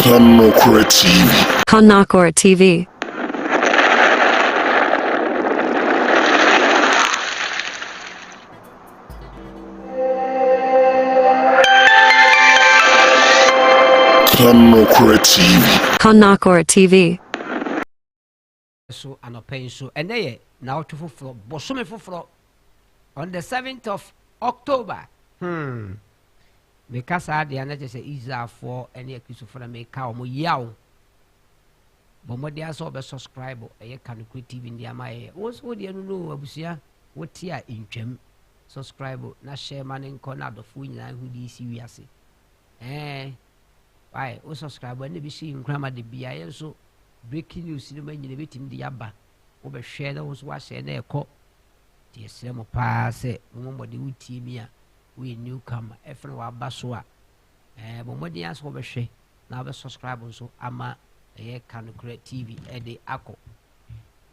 Kanokora TV. Kanokora TV. Kanokora TV. Kanokora TV. So anɔpa yi nso, ɛnɛ yɛ naawɔtwe foforɔ, bosome foforɔ, on the 7th of October. Hmm. Meka saa deɛ na kyerɛ sɛ Israelfoɔ ne Akristofoɔ na meka wɔn yaw. Bɔ mmɔden asɛ wɔbɛ subscribe ɛyɛ Kanokore TV ndi ama yɛ. Wɔn nso wodeɛ no no abusua wote a ntwam subscribe na hyɛ ma ne nkɔ na adɔfoɔ nyinaa ho de si wiase. Ɛɛ. Eh. Wai wo subscribe a na ebi si nkura ma de bia yɛn so breaking news no ma nyina betumi de yaba wo bɛhwɛ na wo nso wahyɛ na ɛkɔ te ɛsrɛ mo paa sɛ mo mo mɔden wo tie mi a wo yɛ new comer ɛfɛn waba so a ɛɛ mo mɔden asɛ wo bɛhwɛ na wobɛ subscribe nso ama ɛyɛ kanokura tv ɛde akɔ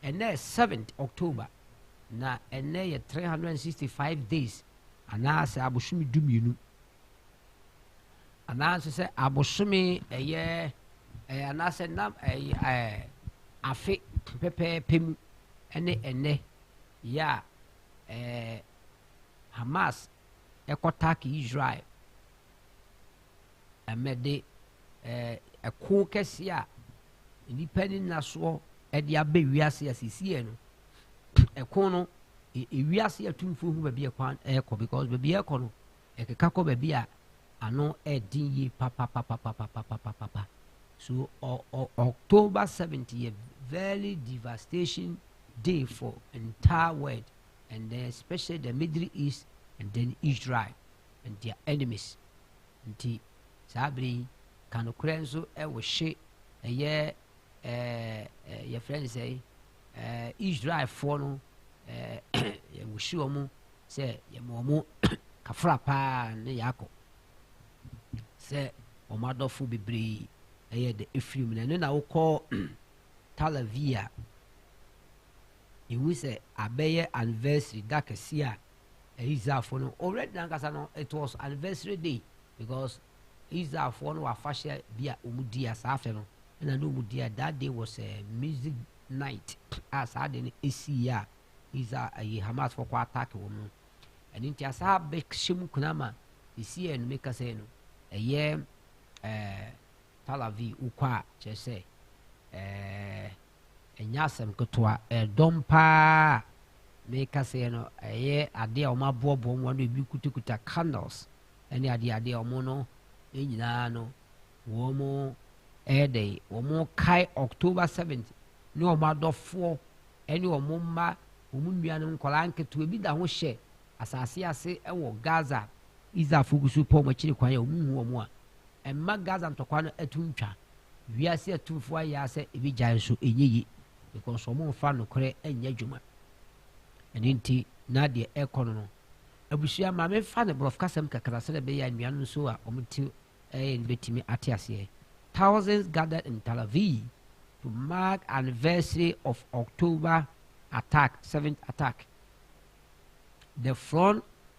ɛnɛ 7th october na ɛnɛ yɛ 365 days anaasɛ abosom du mmienu anaasɛ sɛ abosome ɛyɛ ɛyɛ anaasɛ nam ɛyɛ ɛɛ afe pɛpɛɛpɛ mu ɛne ɛnɛ yɛ a ɛɛ Hamas ɛkɔ tak Israel ɛmɛde ɛɛ ɛko kɛse a nnipa ne nasoɔ ɛde abɛ wiase a sisiɛ no ɛko no ewiase atumfoɔ hu baabi ɛkwan ɛkɔ because baabi ɛkɔ no. Ɛkeka kɔ baabi a ano yɛ den yie papapapapapapapapa. So ɔ ɔ October seventh yɛ very devastation day for entire world and then especially the middle east and then Israel and their enemies. Nti saa bere yi ka nokorɛ nso ɛwɔ hye ɛyɛ ɛɛ yɛfrɛ no sɛe. Israelfoɔ no, yɛwohyi wɔn sɛ yɛma wɔn kafra paa ne Yakob sɛ wɔn adɔfo bebree ɛyɛ de efiri mu na ɛno na wokɔ Talavi a ehu sɛ abɛyɛ anniversary da kɛse a Israelfoɔ no already nankasa no it was anniversary day because Israelfoɔ no wɔ afahyɛ bi a wɔdi a saa afe no na ne wɔdi a that day was a music night a saa ade no ɛsiiɛ a Israel ayi Hamasfoɔ kɔ attack wɔn no ɛno nti asaa bɛhyɛ mu kuna ma ɛsiiɛ no meka sɛ no ɛyɛ ɛɛ Tel Aviv wokɔ a kyerɛ sɛ ɛɛ Ɛnyɛ asɛm ketewa. Ɛdɔm pa ara a meka sɛɛ no, ɛyɛ adeɛ a wɔaboaboa mu ano, ebi kutakuta candles ne adeadeɛ a wɔn no nyinaa no, wɔyɛ dɛn, wɔkae October 7th ne wɔn adɔfoɔ ne wɔn mma, wɔn nuanom, nkwadaa nketewa, ebi da ho hyɛ asase ase wɔ Gaza. Israelfoɔ gu so repɛ wɔn akyiri kwan a wɔnhu wɔn a, ɛmma Gaza ntɔkwa no to ntwa. Wiase atumfoɔ ayɛ ara sɛ ebegyae nso ɛnyɛ yie because wɔmfa nokorɛ nyɛ adwuma. Ɛno nti na deɛ ɛrekɔ no no, abusua ma memfa no borɔfokasɛm kakra sɛdeɛ ɛbɛyɛ a nnuanom nso a wɔte ɛyɛ no bɛtumi ate aseɛ. Thousands gathered in Tel Aviv to mark anniversary of October attack, seventh attack. The front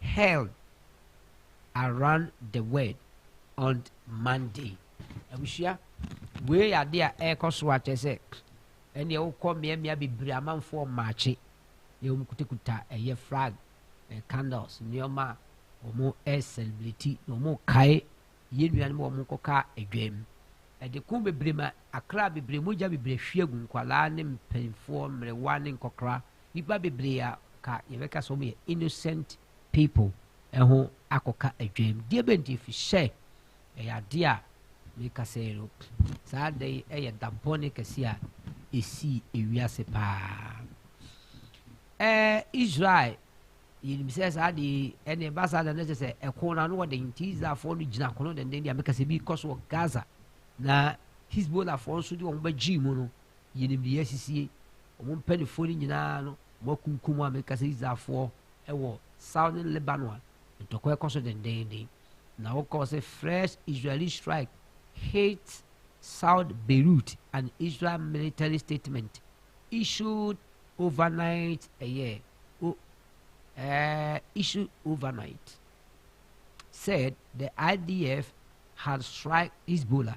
held around the word on Monday. Abusua, wei yɛ ade a ɛrekɔ so a kyerɛ sɛ ɛneɛ wokɔ mmeammea bebree amanfoɔ mmaakye na wɔn kutakuta ɛyɛ flag eh, candles nneɛma a wɔn ɛresɛlebreti na wɔn kae yɛn nuanom wɔn kɔka adwam ɛde ko bebree ma akra bebree mogya bebree hwie gu nkwadaa ne mpanyinfoɔ mmerewa ne nkɔkora Nnipa bebree a ka yɛbɛka sɛ wɔyɛ innocent people ho akɔka adwam. Deɛ bɛ nti fi sɛ ɛyɛ adeɛ a meka sɛ no saa da yi ɛyɛ da bɔne kɛse a ɛsii ewiase paa. Ɛɛ Israel yɛnim sɛ saa de ɛne ɛba saa da no kyɛ sɛ ɛko no ano wɔ den nti israelfoɔ no gyina ko no denden deɛ meka sɛ bi kɔ so wɔ gaza na hisbolahfoɔ nso de wɔn bɛgyee mu no yɛnim deɛ asisie wɔn mpanimfoɔ no nyinaa no wɔakunkum a meka sɛ Israelfoɔ wɔ Southern Lebanon a ntɔkwa rekɔ so dendeenden. Na wɔkɔɔ sɛ Fresh Israeli Strike Hits South Beirut, an Israel military statement issued overnight ɛyɛ o uh, issued overnight said the IDF had strike Hezbollah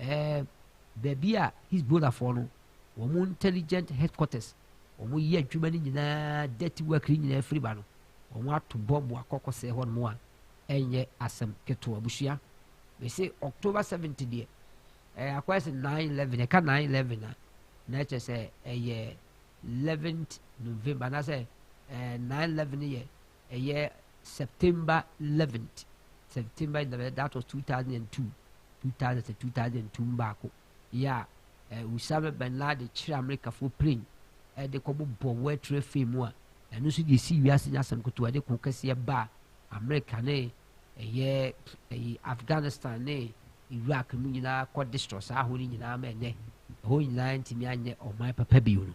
Ɛɛ baabi a Hezbollahfoɔ no wɔn intelligent headquarters wɔn yɛ adwuma no nyinaa dirty work no nyinaa firi ba no wɔn ato bɔmbo akɔkɔ sɛ hɔ nom a ɛnyɛ asɛm ketewa abusua mese October 7th deɛ ɛɛ akɔyɛ sɛ 9/11 ɛka 9/11 a na ɛkyɛ sɛ ɛyɛ 11th November anaasɛ ɛɛ 9/11 yɛ Ɛyɛ September eleventh, September eleventh, that was two thousand and two, two thousand sɛ two thousand and two mu baako yɛ a eh, Usama bin Laden kyerɛ Amerikafoɔ plane ɛde eh, kɔbɔ bɔ World Trade Fair mu a ɛno nso deɛ ɛsi wiase nyɛ asɛm ketewa ɛde ko kɛseɛ baa Amerika ne ɛyɛ eh, ɛyi eh, Afghanistan ne Iraq mu nyinaa kɔ destroy saa ho no nyinaa ma ɛnɛ ɛhɔ nyinaa ntumi anyɛ ɔman papa bio no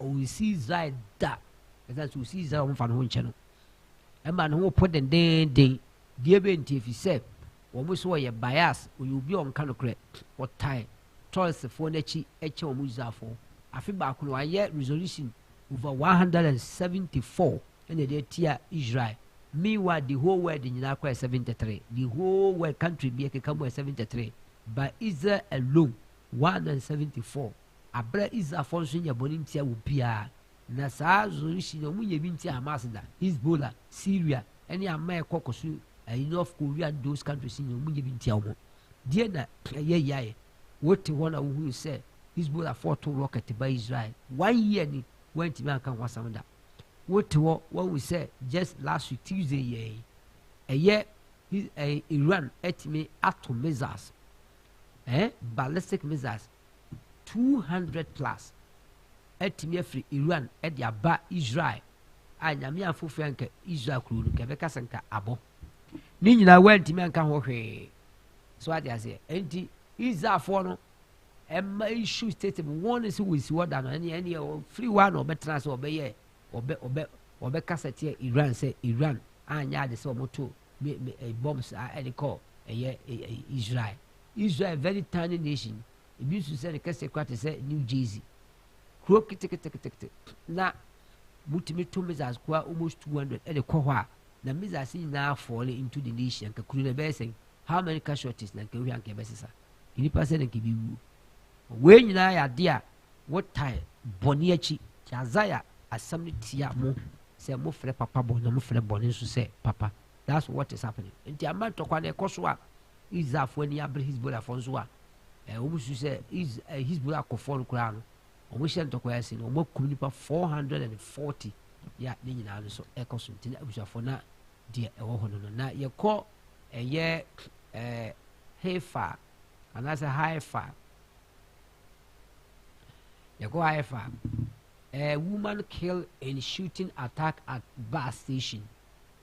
ɔnsi Israel da, ɛsiane sɛ ɔsi Israel a wɔmfa ne ho nkyɛ no. Ɛma ne ho po dendeenden. Deɛ bɛn nti? Ɛfiri sɛ wɔn so ɔyɛ bias, ɔyɛ obi a ɔnka nokorɛ, ɔtan Tɔlsfoɔ no akyi kyɛ wɔn Israelfoɔ. Afe baako no, wɔayɛ resolution over 174 ɛna ɛde atia Israel. Meanwhile, the whole world nyinaa kɔ yɛ 73. The whole world country bi ɛkeka mu yɛ 73. But Israel alone, 174. Aber a Israelfo so nnyɛ bɔn nntsia obiara, na saa zonshi no wɔnnyɛ bi nntsia Hamas da, Hezbollah, Syria, nye aman a ɛkɔ kɔ so ayi North Korea nye those countries nyina wɔnnyɛ bi nntsia hɔn. Deɛn na ɛyɛ yaɛ? Wote hɔ na wohunu sɛ Hezbollah foɔ too rocket baa Israel, one year ni wɔanntumi annka ho asɛm da. Wote hɔ woahu sɛ just last week Tuesday yɛ yi, ɛyɛ Iran atumi ato missiles, eh, ballistic missiles two hundred plus atumi afiri Iran de aba Israel a nyame afofo anka Israel kuro no nka ɛbɛka sɛ nka abɔ ne nyinaa wantumi anka ho hwee so ade aseɛ enti Israelfoɔ no ɛma isu tete mu wɔn ne sɛ wɔsi hɔ da no ɛne ɛne ɔfiri hɔ a na ɔbɛtena sɛ ɔbɛyɛ ɔbɛ ɔbɛ ɔbɛkasa teɛ iran sɛ iran anyɛ ade sɛ ɔmoto bombs a ɛde kɔ ɛyɛ israel Israel yɛ very tiny nation, ebi su sɛ ne kɛseɛ kora te sɛ New Jersey. Kuro keteketekete na motumi to missiles koraa almost 200 ɛde kɔ hɔ a na missiles nyinaa fall into the nation anka kuro no ɛbɛyɛ sɛn how many casualties na anka ehwɛ anka ɛbɛsesa nnipa sɛ na anka ebi wuo wei nyinaa yɛ adeɛ a wotae bɔne akyi nti Isaiah asɛm no tia mo sɛ mofrɛ papa bɔne na mofrɛ bɔne nso sɛ papa That's what is happening. Nti ama ntɔkwa no ɛkɔ so a, Israelfoɔ ani abere Hezbollahfoɔ nso a, eh, wɔn su sɛ Is- eh, Hezbollah akɔfoɔ no koraa no, wɔn hyɛ ntɔkwa ase no, wɔn akum nipa 440 ya ne nyinaa no so ɛkɔ so. Nti na abusuafoɔ na deɛ ɛwɔ hɔ no no. Na yɛkɔ ɛyɛ eh, Haifa anaasɛ Haifa yɛkɔ haifa a eh, woman kill in shooting attack at bus station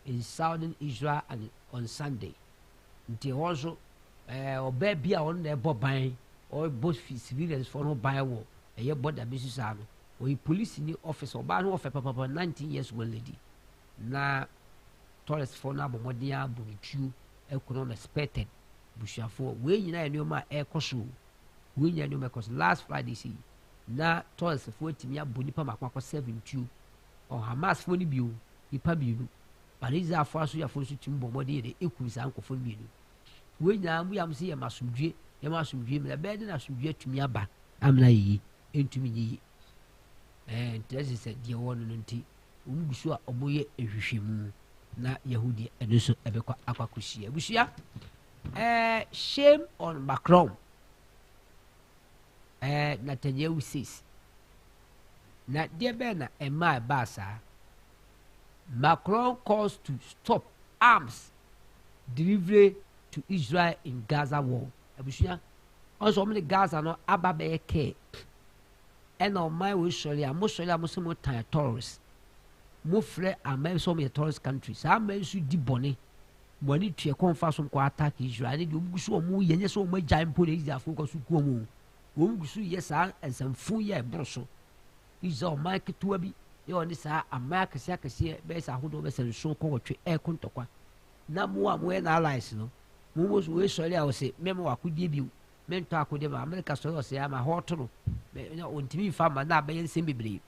in southern Israel and on Sunday. Nti ɛhɔ nso ɛɛ eh, ɔbaa bi a ɔno na ɛbɔ ban ɔbɔ civilians fo no ban wɔ ɛyɛ bɔda bi so saa no ɔyɛ polisi ni ɔfisa ɔbaa no ɔfɛ papapa nineteen years old lady na tourist fo no abɔmmɔden abɔ ne tuo ɛkɔnɔ na spɛtɛd busuafoɔ wei nyinaa nneɛma a ɛrekɔ so wei nyinaa nneɛma ɛkɔ so last friday si na tourist fo atumi abɔ nipa mako akɔ seven tuo Ɔwɔ Hamasfoɔ no bio nnipa mmienu, but Israelfoɔ asogyafoɔ nso tumi bɔ mmɔden yɛ dɛ kum saa nkurɔfoɔ no mmienu. Wei nyinaa bua mo sɛ yɛma asomdwie, yɛma asomdwie mmra. Bɛyɛ dɛ na asomdwie atumi aba amena yɛ yi, ɛntumi nyɛ yi. Ɛɛ nkyerɛ sɛ sɛ deɛ wɔwɔ no no nti, wɔn gu so a wɔyɛ nhwehwɛmu na yɛhu deɛ ɛno nso ɛbɛkɔ akɔ akɔhyia. Abusua, ɛɛ shame on Macron. Ɛɛ, Netanyahu says. Na deɛ bɛn na ɛmaa ɛbaa saa? Macron calls to stop arms delivery to Israel in Gaza war. Abusua, ɔsɛ wɔn de Gaza no aba bɛyɛ kɛɛ. Ɛna ɔman wei sɔre a, mo sɔre a mo sɛ mo tan terrorist. Mo frɛ aman sɛ wɔn yɛ terrorist country. Saa aman nso di bɔne. Wɔn ani tua kwan fa so kɔ attack Israel ne deɛ wɔn gu so wɔn yɛ nyɛ sɛ wɔn agyae mpo na Israelfoɔ kɔ so kuo mu wɔn gu so yɛ saa nsɛmfo yɛ ɛboro so Israel ɔman ketewa bi yɛ ɔne saa aman akɛseɛ akɛseɛ bɛyɛ sɛ ahodoɔ bɛsɛ nson kɔ wɔtwe ɛɛko ntɔkwa na mo a moyɛ na allies no mo mo so wɔsɔre a wɔsɛ mɛma wɔ akodeɛ bio mentɔ akodeɛ ma Amerika sɔre ɔsɛ ama hɔ ɔto no na ɔntumi mfa ma na abɛyɛ nsɛm bebree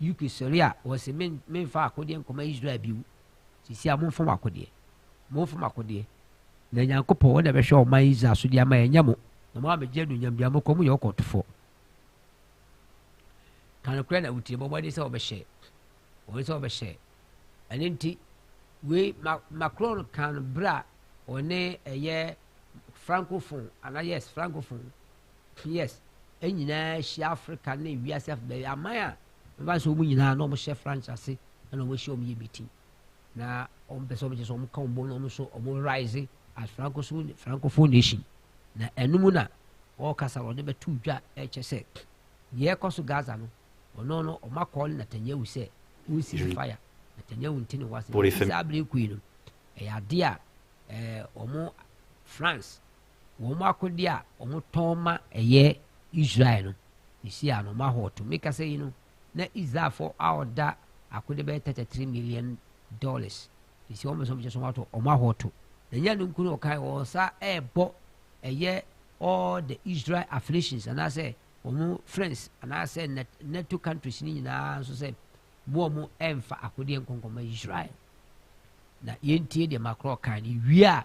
UK sɔre a wɔsɛ memfa akodeɛ nkɔma Israel bio Seesei a momfa mo akodeɛ, momfa mo akodeɛ, na Nyankopɔn, Ɔno na ɛbɛhwɛ ɔman Israel so de ama yɛn, ɛnyɛ mo, na moammɛgye anuonyam biara, mokɔ, moyɛ ɔkɔtofoɔ. Ka nokorɛ na wotie, bɔ mmɔden sɛ wɔbɛhyɛ, wɔn sɛ wɔbɛhyɛ. Ɛno nti, wei Macron kan berɛ a ɔne ɛyɛ francophone anaa yes francophone Pierce nyinaa hyia Afrika ne wiase afa baabi, aman a mɛba sɛ wɔn nyinaa na wɔhyɛ Franch ase na wɔahyia wɔn yɛ meeting na wɔn pɛ sɛ wɔn kyerɛ sɛ wɔn ka wɔn bom na wɔn nso wɔn rise as francophone francophone nation na ɛno mu na wɔrekasa na wɔde bɛto dwa ɛkyɛ sɛ deɛ ɛkɔ so Gaza no ɔno no wɔn akɔ ne Netanyahu sɛ wɔn cease fire Netanyahu nti ne wɔasɛ saa abiri koi no ɛyɛ adeɛ a ɛɛ wɔn France. wɔn akode a wɔtɔn ma ɛyɛ Israel no, seesei a na wɔahɔɔto. Me kasa yi no, na Israelfo a wɔda akode bɛyɛ tɛtɛ three million dollars. Seesei wɔn bɛsɛ wɔn kyɛ so wɔato wɔn ahɔɔto. Na nyɛ no nko na ɔkae, wɔn nsa ɛrebɔ ɛyɛ all the Israel affiliations anaasɛ wɔn friends anaasɛ NATO countries no nyinaa nso sɛ mo a mo ɛmfa akodeɛ nkɔnkɔma Israel. Na yɛntie deɛ Macron kae no wie a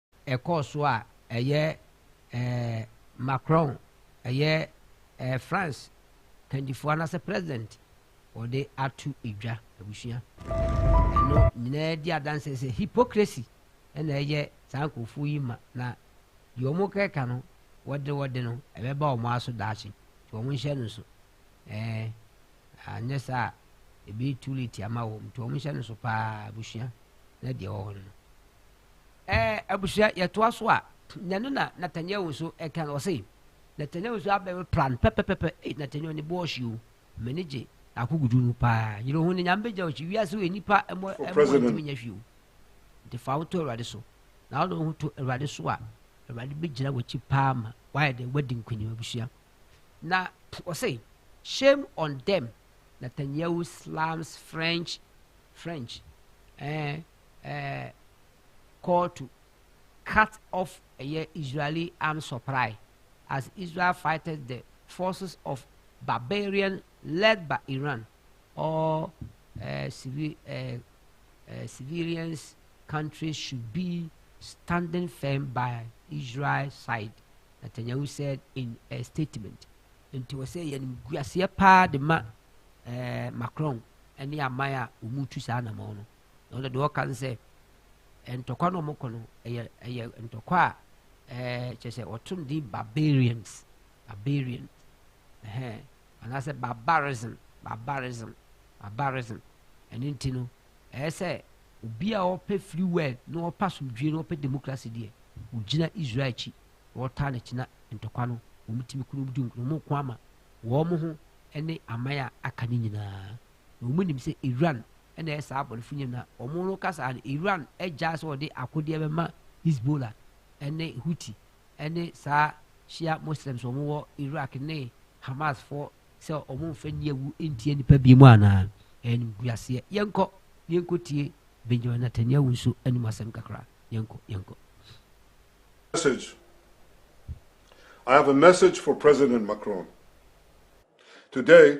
ɛkɔɔ so a ɛyɛ ɛɛ Macron, ɛyɛ ɛɛ France kandifoɔ anaasɛ president wɔde ato dwa abusua. Ɛno nyinaa di adanse sɛ hypocrisy na ɛyɛ saa nkurɔfoɔ yi ma na deɛ wɔn kɛka no wɔde wɔde no ɛbɛba wɔn aso daakye nti wɔn nhyɛ no so ɛɛ anyɛ saa a ebi too late ama wɔn nti wɔn nhyɛ no so paa abusua na deɛ ɛwɔ hɔ no. Ɛɛ abusua yɛtoa so a nyɛno na Nathaniel nso ɛka no ɔse Nathaniel nso abɛ me pra no pɛpɛpɛpɛ ei Nathaniel ne bo ɔhye o m'ani gye akogudu no paa yere ho ne nyame bɛgya ɔkyi wiase wɔ nipa ɛmɔ ɛmɔ ntumi nya hwee o nti fa woto awurade so na wode wo ho to awurade so a awurade bɛgyina wakyi paa ma wayɛ dɛ wadi nkonim abusua na ɔse shame on them Nathaniel slams French French ɛɛ eh, ɛɛ call to cut off ɛyɛ Israeli arms supply as Israel fights the forces of barbarian led by Iran all ɛɛ civil ɛɛ ɛɛ civilians countries should be standing firm by Israel side. Netanyahu said in a statement. Nti wɔ sɛ yɛn guaseɛ paa de ma ɛɛ Macron ɛne aman a wɔn tu saa anamɔn no. na ɔno deɛ ɔka no sɛ ntɔkwa no ɔmokɔ no ɛyɛ ɛyɛ ntɔkwa a ɛɛ kyerɛ sɛ ɔtom din barbarians barbarian ɛhɛn anaasɛ barbarism barbarism barbarism ɛno nti no ɛyɛ sɛ obi a ɔpɛ free world na ɔpɛ asomdwie na ɔpɛ democracy deɛ ɔgyina israel akyi na ɔtaa n'akyi na ntɔkwa no wɔn tumi kunu di nkunu wɔn ko ama wɔn ho ne aman a aka no nyinaa Na wɔn nim sɛ Iran na ɛyɛ saa abɔnefo nyɛ na wɔn no ka saa no Iran gyaa sɛ wɔde akodeɛ bɛma Hezbollah ɛne Houthi ɛne saa Shia Muslims wɔn wɔ Iraq ne Hamas fɔ sɛ wɔn mfa ni awu ntia nipa bi mu anaa ɛnim guaseɛ yɛnkɔ na yɛnkɔ tie Benjamin Netanyahu nso anim asɛm kakra yɛnkɔ yɛnkɔ. Message I have a message for President Macron. Today,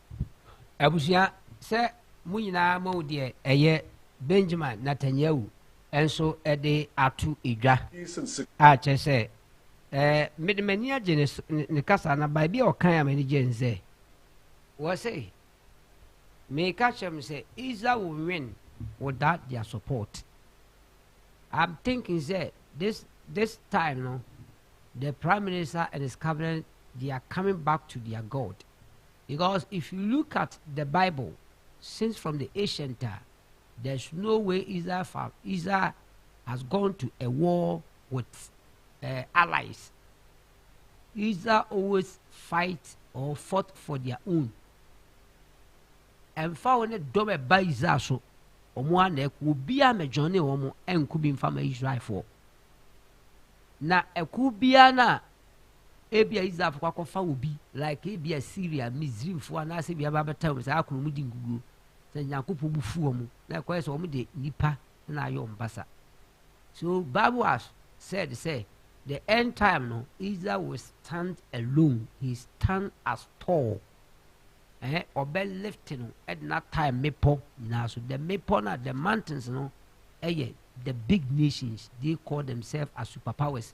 Abusua sɛ mo nyinaa moahu deɛ ɛyɛ Benjamin Natanyahu nso de ato dwa a kyerɛ sɛ eh, mede m'ani agye ne, ne kasa na baabi a ɔkan a m'ani gye nzɛ wɔ se meka kyerɛ m sɛ iza wo nwen without their support I'm thinking sɛ this this time no the prime minister and his cabinet they are coming back to their God because if you look at the bible since from the ancient a there's no way Israel fa Israel has gone to a war with uh, allies Israel always fight or fought for their own ɛmfa wɔn ne dɔm ɛba Israel so wɔn a na ɛkɔ obi a mɛdwɔn ne wɔn ɛnko bi nfa ma Israelfoɔ na ɛko biara na Ebia Israelfo kɔ akɔfa obi like ebia Syria, Misraimfo anaasɛ bia bɛabɛtɛw no saa akono mu di nkuguo. Sɛ Nyankopɔn bu fu wɔn na ɛkɔyɛ sɛ wɔn de nipa na ayɛ wɔn basa. So Bible has said sɛ the end time no Israel will stand alone, he stand as tall. Eh, ɔbɛ lift no ɛde na tie mmepɔ nyinaa so. The mmepɔ na the mountains no ɛyɛ the big nations they call themselves as superpowers.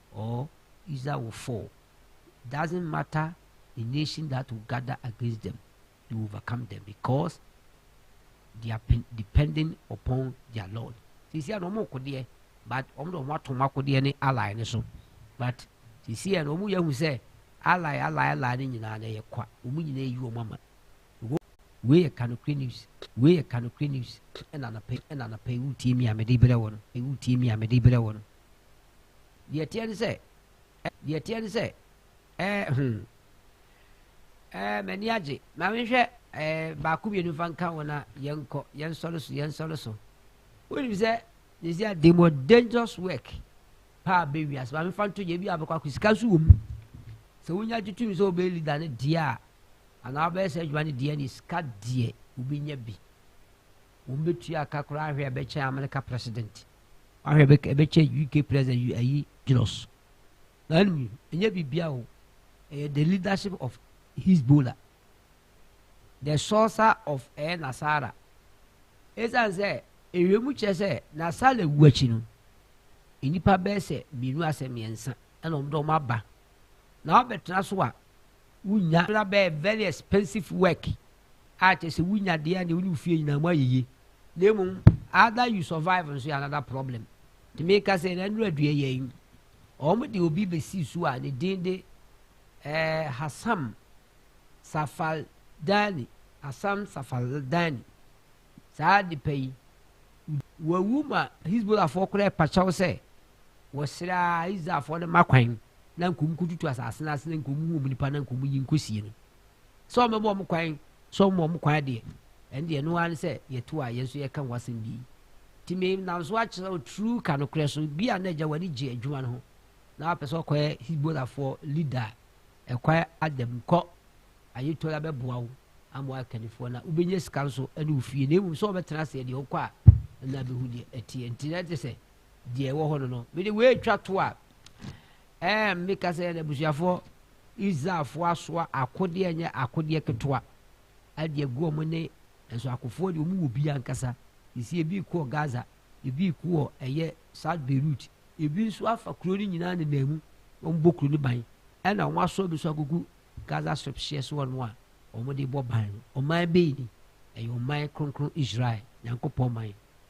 or Israel will fall doesn't matter the nation that will gather against them they will overcome them because they are depending upon their Lord sisi ano wɔn kodeɛ but wɔn de wɔn ato wɔn akodeɛ ne ally ne so but sisi ano wɔn yɛ hu sɛ ally ally ally ne nyinaa na ɛyɛ kwa wɔn nyinaa eyi wɔn ama wei yɛ kanokre news wei yɛ kanokre news ɛna anapɛ ɛna anapɛ ewu tie mi a mɛde brɛ wɔn ewu tie mi a mɛde brɛ wɔn. Deɛ ɛteɛ ne sɛ, ɛ, deɛ ɛteɛ ne sɛ, ɛɛ, hmm. Ɛɛ, m'ani agye. Ma menhwɛ, ɛɛ, baako mmienu fa nka wɔn a yɛnkɔ, yɛnsɔre so, yɛnsɔre so. Wonim sɛ, sisi a the more dangerous work paa bɛ wiase, ma mefa nto yɛ bi a bɛkɔ akɔ sika nso wɔ mu. Sɛ wonya gye tumi sɛ wobɛyɛ leader ne deɛ a, anaa wobɛyɛ sɛ adwuma ne deɛ ne sika deɛ wobɛnya bi. Wɔn bɛtua aka koraa hwɛ a ɛbɛkyɛn Amerika president. Ahwɛ bɛ kɛ bɛkyɛ UK president yu ayi Gilos. Na anum yi, ɛnyɛ biribiara o. Ɛyɛ the leadership of Hezbollah. The sourcer of ɛyɛ Nasara. Ɛsiane sɛ ɛwɛmu kyerɛ sɛ Nasara wu akyi no, nnipa bɛyɛ sɛ mmienu asɛ mmiɛnsa ɛna wɔn de wɔn aba. Na wɔbɛtena so a wonya na bɛyɛ very expensive work a kyerɛ sɛ wonya deɛ a deɛ wo ne wo fie nyinaa mo ayɛ yie na mmom ada you survive nso yɛ another problem nti meka sɛ na nnura dua yɛ yi wɔn de obi bɛsi so a ne din de eh, hasam safaldani hasam safaldani saa nipa yi wawu ma hisbolafoɔ koraa pakyɛw sɛ wɔsrɛ a israelfoɔ no ma kwan na nkɔm kɔtutu asase no ase na nkɔm hu ɔmu nipa na nkɔm yi nkɔsie no sɛ wɔn bɛbɔ wɔn kwan sɛ wɔn wɔn kwan adeɛ ɛn deɛ ɛno ara ne sɛ yɛto a yɛn nso yɛka ho asɛm bi nti me nam so akyerɛ wo turu ka nokorɛ so bi a na agya w'ani gye adwuma no ho na wapɛ sɛ ɔkɔyɛ hibolafoɔ leader ɛkwan adam kɔ ayetɔ la bɛboa wo ama wakannifoɔ na wobɛnya sika nso ne wo fie na mmom sɛ wɔbɛtena aseɛ deɛ wokɔ a ɛna bɛhu deɛ ɛteɛ nti na ɛte sɛ deɛ ɛwɔ hɔ no no mede wei twa to a ɛɛ meka sɛ n'abusuafoɔ israelfoɔ asoa akodeɛ ɛnyɛ akodeɛ ketewa ɛde agu wɔn ne nso akofoɔ deɛ wɔn wɔ bi ankasa sisi ebi kɔ gaza ebi kɔ ɛyɛ south beirut ebi nso afa kuro no nyinaa nenam mu wɔn bɔ kuro no ban ɛna wɔn asoa bi nso agugu gaza strip hyɛ so wɔn a wɔn de bɔ ban no ɔman bɛyi ni ɛyɛ ɔman kronkron israel nyankopɔn man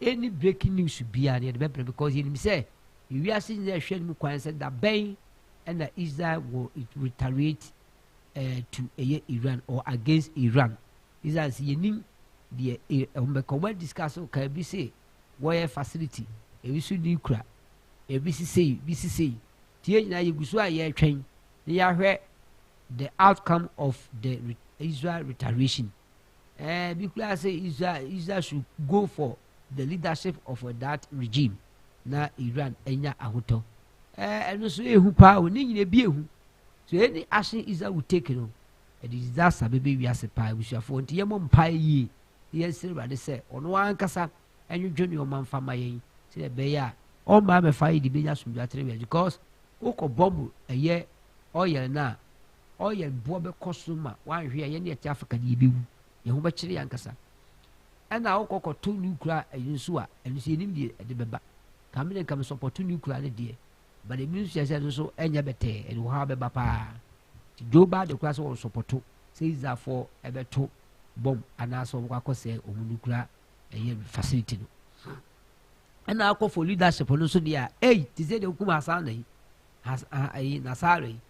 any breaking news biara no yɛde bɛbrɛ because yɛnim sɛ wiase nyinaa ɛhwɛ no mu kwan sɛ da bɛn ɛna Israel wɔ retaliate uh, to ɛyɛ Iran or against Iran Israel sɛ yɛnim deɛ ɛwɔ bɛka wɔn discuss ka ebi se wɔyɛ facility ebi so ni kura ebi sisei bi sisei tie nyinaa yɛgu so a yɛretwɛn na yɛahwɛ the outcome of the Israel retaliation Eh, bi koraa sɛ Israel, Israel should go for the leadership of that regime na Iran anya ahotɔ. Eh, ɛno so ehu paa o, ne nyina bi ehu. So any action Israel will take no, ɛde disaster bɛbɛ wiase paa abusuafoɔ. Nti yɛmmɔ mpae yie, yɛnsrɛ Awurade sɛ ɔno ankasa ɛnwodwo nneɛma mfa ma yɛn sɛ ɛbɛyɛ a ɔmma abɛfa yɛ de bɛnya asomdwa atere wia because wokɔ bɔmbo ɛyɛ ɔyɛl no a ɔyɛl boɔ bɛkɔ so ma wanhwe a yɛne ɛte africa ne yɛbɛwu yɛn ho bɛkyere yɛ ankasa ɛna wokɔ kɔto nukura ɛyi nso a ɛno nso yɛnim deɛ ɛde bɛba kame ne nkame sɔpɔto nukura ne deɛ but ebi nso yɛ sɛ ɛno nso ɛnyɛ bɛtɛɛ ɛde wɔ ha bɛba paa nti dwo baa de kora sɛ wɔn sɔpɔto sɛ israelfoɔ ɛbɛto bɔm anaasɛ wɔn kɔ akɔsɛ wɔn nukura ɛyɛ facility no ɛna akɔ for leadership no nso deɛ ɛyi te sɛ deɛ okum asan na yi ɛyi nasara yi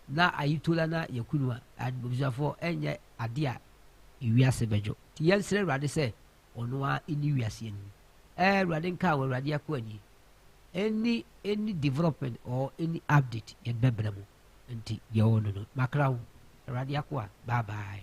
na ayi tola na yakunu a abusuafoɔ ɛnyɛ adeɛ a ewiase bɛdwo te yɛn srɛ awurade sɛ ɔno a ɛni wiase yɛn ni ɛɛ awurade nka wɔ awurade akɔ ani ɛni ɛni development or ɛni update yɛn bɛbrɛ mu nti yɛwɔ no no makra ho awurade akɔ a bye bye.